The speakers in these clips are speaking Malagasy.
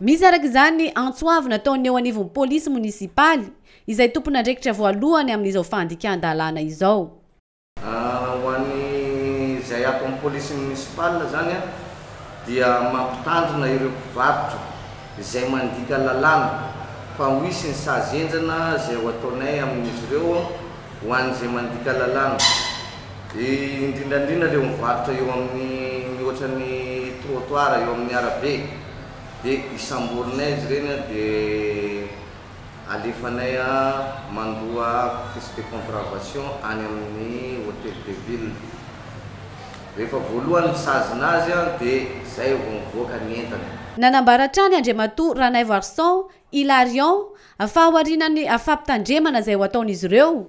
Misy araka izany antso avo nataon'ny eo anivon'ny polisy monisipaly, izay tompon'andraikitra voalohany amin'izao fandikan-dalàna izao. Ho an'izay ato amin'ny polisy monisipaly izany dia mampitandrina ireo mpivarotra izay mandika lalàna fa ho hisy ny sazy henjana izay ho ataonay amin'izy ireo ho an'izay mandika lalàna. Dia indrindraindrindra ireo mivarotra eo amin'ny mihoatra ny trottoir eo amin'ny arabe dia isamborinay izy ireny an dia alefanay mandoa piece de contravation any amin'ny hotel de ville. Rehefa voalohany misazina azy an dia izay vao mivoaka ny entana. Nanambara hatrany Andriamatoa Ranaivoarison Hilarion fa aorianan'ny fampitandremana izay ho ataon'izy ireo,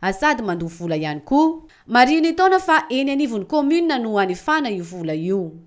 ary sady mandoa vola ihany koa. Marihin'ny taona fa eny anivon'ny kaominina no hanefana io vola io.